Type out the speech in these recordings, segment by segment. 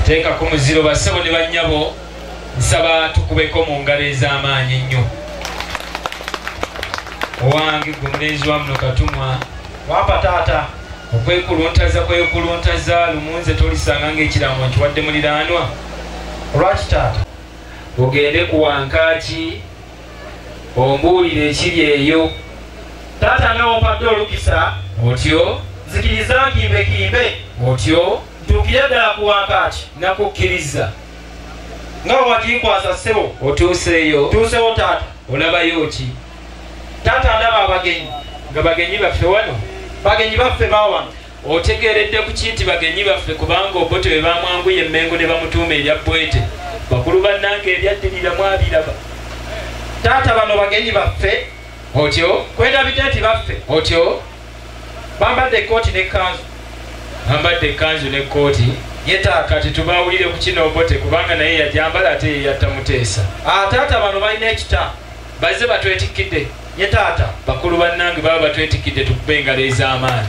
teeka ku muziro bassebo ne bannyabo nsaba tukubeko mu ngalo ez'amaanyi ennyo owange gwe mulenzi wa muno katumwa wampa taata okwekuluntaza kwekuluntaza lumunze tolisanga ng'ekiramu nkiwadde muliraanwa olwaki taata ogende ku wankaaki ombuulire ekiri eyo taata nga wompadde olukisa otyo nzikiriza nkimbe kimbe otyo ntuukire ddala ku wankaaki nakukkiriza nga wakinkwasa ssebo otuuseeyo tuusewo taata olabayo ki taata ndaba abagenyi nga bagenyi baffe wano bagenyi baffe bawano Otegeeredde ku ki nti bagenyi baffe kubanga Obote bwe baamwanguya e Mmengo ne bamutuuma erya Bwete? Bakulu bannange ebyaddirira mwabiraba. Taata bano bagenyi baffe. Otyo. Kwendabidde nti baffe. Otyo. Bambadde ekkooti n'ekkanzu. Bambadde ekkanzu n'ekkooti. Yeta kati tubaawulire ku kino Obote kubanga naye yagyambala ate ye yatta Muteesa. Ah, taata bano balina ekita. bazze batwetikkidde nye taata bakulu bannange baba batwetikkidde tukube engalo ez'amaanyi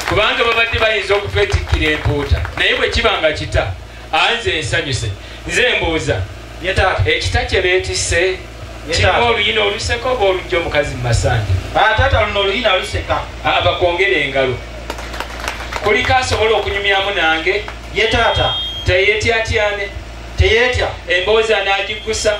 kubanga babadde bayinza okutwetikkira empuuta naye bwe kiba nga kita anze ensanyuse nze mbuuza nye taata ekita kye beetisse kirimu oluyina oluseka oba olujja omukazi mu masanja ah, taata luno oluyina luseka ah, bakwongera engalo kuliko asobola okunyumyamu nange ye taata teyetyatyane teyetya emboozi anagiggusa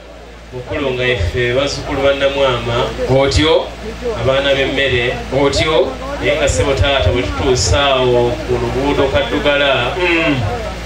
mukulu nga ife bazzukulu bannamwama otyo abaana b'emmere otyo naye nga ssebo taata bwe tutuusa awo ku luguudo kaddugala mm.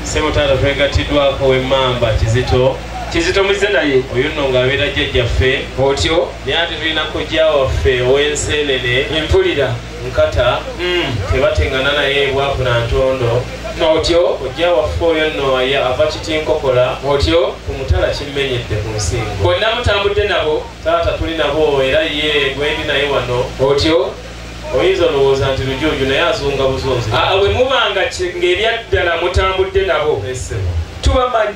ssebo taata twegatiddwako w'emmamba kizito kizito muzze naye oyo nno ng'abeera jjajjaffe otyo naye ate tulina kojja waffe ow'enseenene empulira nkata mm. tebatengana naye bwavu na ntondo otyo ojja waffe oyo nno aye ava kitinkokola otyo ku mutala kimmenyedde ku nsingo bonna mutambudde nabo taata tuli nabo era ye gwendi naye wano otyo oyinza olowooza nti lujuuju naye azunga buzunzi ah, ah, bwe mubanga ng'ebyaddala mutambudde nabo tubamanyi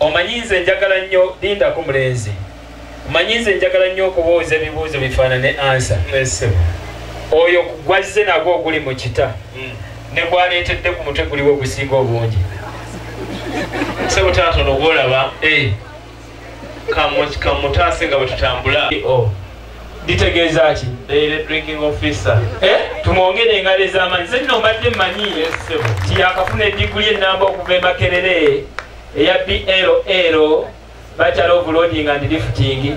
omanyi nze njagala nnyo lindako mulenzi omanyi nze njagala nnyo okubuuza ebibuuzo bifaanane ansa oyo gwazze nagwo oguli mu kita hmm. ne gwaleetedde ku mutwe guliwo ogusinga obungi sebutaatono ogwolaba eh. kamutaase nga bwetutambula oh. litegeeza ki eh? tumwongere engalo ez'amaanyi ze nno mbadde mmanyi nti yakafuna ediguli ennamba okuva emakerere eya bll bacala obuloading and lifting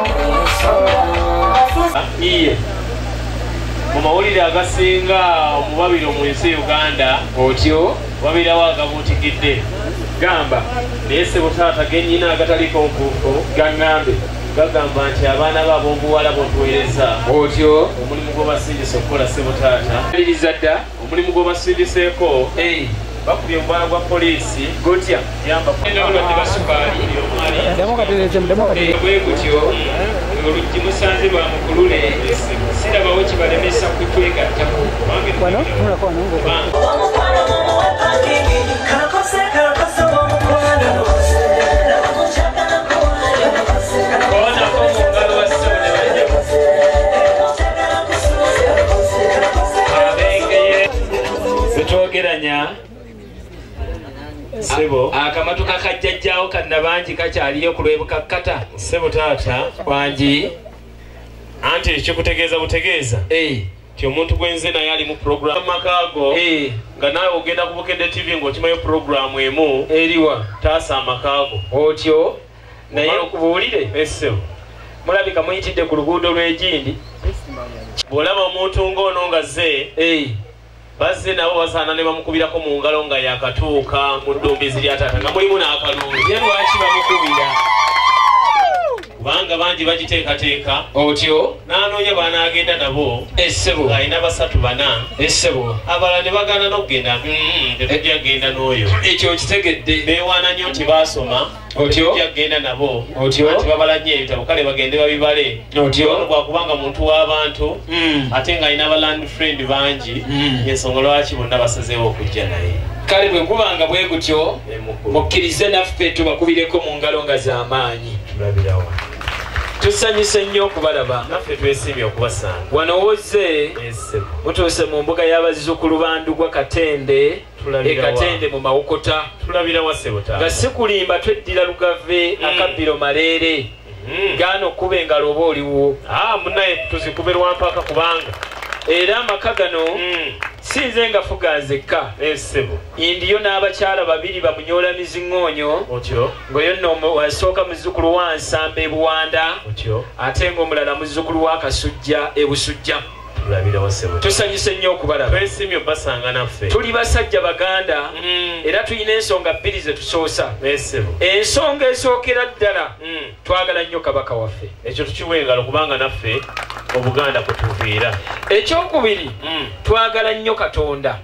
iye mu mawulire agasinga omubabiro mu nsi uganda otyo wabirawo agabuutikidde gamba naye sebo taata genyina agataliko nkuufu gaŋŋambe gagamba nti abaana be ab'obuwala botuweereza otyo omulimu gw'obasindisa okukola sebo taata aliriza dda omulimu gwobasindiseeko bakubye omubala gwa poliisi gotya yambaendawulwadde basukaali bwe gutyo oluggi musanze lwa mukulule sirabawo kibalemesa kutwegattako twogeranya sebo akamatu kakajjajjawo kanna bangi kakyaliyo kulwebukakkata sebo taata bangi anti ekyokutegeeza butegeeza eh. ti omuntu gwenze naye alimu program makaago eh. nga naawe ogenda ku bukedde tv ngaokimayo programu emu eriwa taasa amakaago otyo naye okubuulire esebo mulabika muyitidde ku luguudo lw'egindi bw'olaba omuntu ng'ono nga ze bazze nabo basaana ne bamukubirako mu ngalo nga yakatuuka mu ddumbizi lya taata nga mulimu n'akalungi ye lwaki bamukubira kubanga bangi bagiteekateeka otyo n'anoonya baanaagenda nabo esebo alina basatu bana esebo abala ne bagana n'okugenda mm, tetujja kugenda n'oyo ekyo okitegedde beewaana nnyo nti baasoma otyogenda nabo otyo anti babala nnyo ebitabo kale bagende babibale otyo gwakubanga muntu w'abantu hmm. ate nga alina abaland friend bangi hmm. ensonga lwaki bonna basazeewo okujja naye kale bwe gubanga bwe gutyo mukkirize naffe tubakubireko mu ngalo nga z'amaanyi tusanyuse nnyo okubalaba naffe twesiimye okubasanga wano wozze mutuuse mu mbuga y'abazzukulu bandugwa katende e katende mu mawokota nga sikulimba tweddira lugave mm. akabbiro maleere mm. gaana okuba engalo oba oliwo ah, munaye tuzikube lwampaka kubanga era amaka gano mm. sinze nga fuga nzekka eh, indiyo n'abakyala babiri bamunyola miziŋoonyo ngaoyo nno asooka muzzukulu wa nsamba ebuwanda ate ngaomulala muzzukulu wa kasujja ebusujja tusanyuse nnyo okubalaba tuli basajja baganda mm. era tulina ensonga bbiri ze tusoosa ensonga esookera ddala mm. twagala nnyo kabaka waffe ekyo tukiwengalo kubanga naffe obuganda kutuviira ekyokubiri mm. twagala nnyo katonda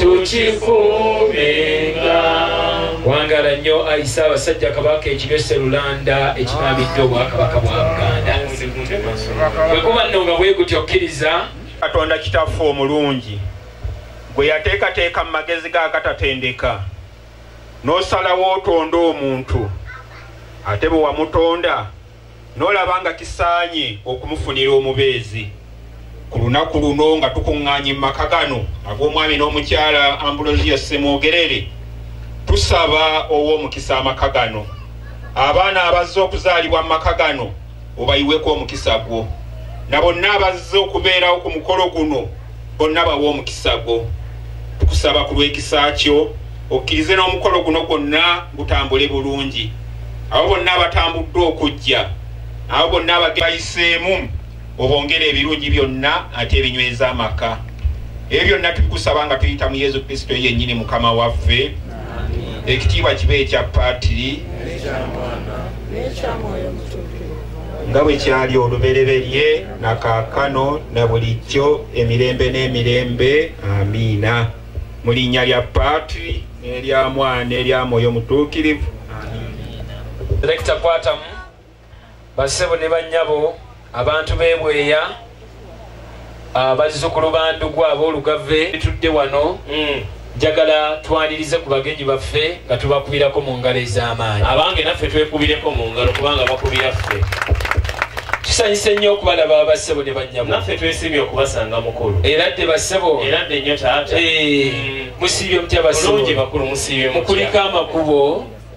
tukikuumenga wangala nnyo ayi ssaabasajja kabaka ekiryo serulanda ekinaamidde obwakabaka bwa buganda bwe kuba nno nga bwe gutya okkiriza katonda kitaffe omulungi gwe yateekateeka mu magezi ga katatendeka n'osalawo otonda omuntu ate bwe wamutonda n'olaba nga kisaanye okumufunira omubeezi ku lunaku luno nga tukuŋŋaanye mu maka gano ag'omwami n'omukyala ambulosiyo ssemwogerere tusaba ow'omukisa amaka gano abaana abazze okuzaalibwa mu maka gano obayiweko omukisa gwo na bonna abazze okubeerawo ku mukolo guno bonna bawa omukisa gwo tukusaba ku lw'ekisa kyo okkirize n'omukolo guno gwonna gutambule bulungi abo bonna abatambuddwa okujja abo bonna abagebayiseemu obongere ebirungi byonna ate ebinyweza amaka ebyo byonna tubikusaba nga tuyita mu yesu kristo yennyini mukama waffe ekitiibwa kiba ekya paatiri nga bwe kyali olubereberye na kaakano na bulijjo emirembe n'emirembe amiina mu linnya lya paatri n'erya mwana n'erya mwoyo mutuukirivu direkita kwatamu basebo ne bannyabo abantu b'ebweya abazzukulu bandugwa ab'olugave bitudde wano mm. njagala twanirize ku bagenyi baffe nga tubakubirako mu ngalo ez'amaanyi abange naffe twekubireko mu ngalo kubanga bakubira ffe tusanyise nnyo okubalaba bassebo ne bannyabo naffe twesiimye okubasanga mukulu era dde bassebo era dde nnyo taata eh, mm. musiibye mutya bassebo mukuliko amakubo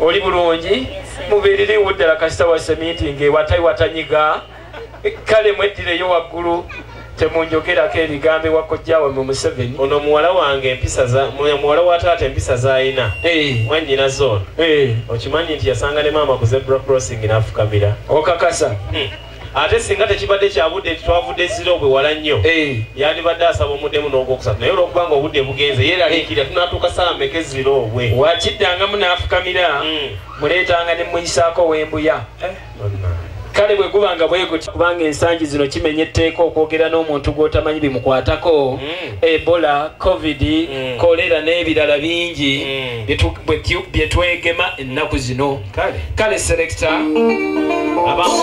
oli bulungi mubiririwo ddala kasita wa seminti ngaewatayi watanyiga kale mweddireyo waggulu temunjogerako ebigambo ewakojjawe mu museveni ono muwala wange empisa muwala wa taata empisa zalina eh. mwanyina zona eh. okimanyi nti yasanga ne maama ku zebra crossing nafukamira okakasa hmm. ate singa tekibadde kyabudde nti twavudde ziro bwe wala nnyo eh. yandibadde asaba omuddemu n'ogwokusatu naye olwokuba nga obudde bugenze yeeraliikirira tunatuuka saawa meka eziro obwe wakiddangamu n'afukamira hmm. muleetanga ne muyisaako wembuya eh, kale bwe guba nga bweguti kubanga ensangi zino kimenya etteeka okwogera n'omuntu gw'otamanyi bimukwatako hmm. ebola covid hmm. kolera n'ebirala bingi bye twegema ennaku zino kale selekita abamu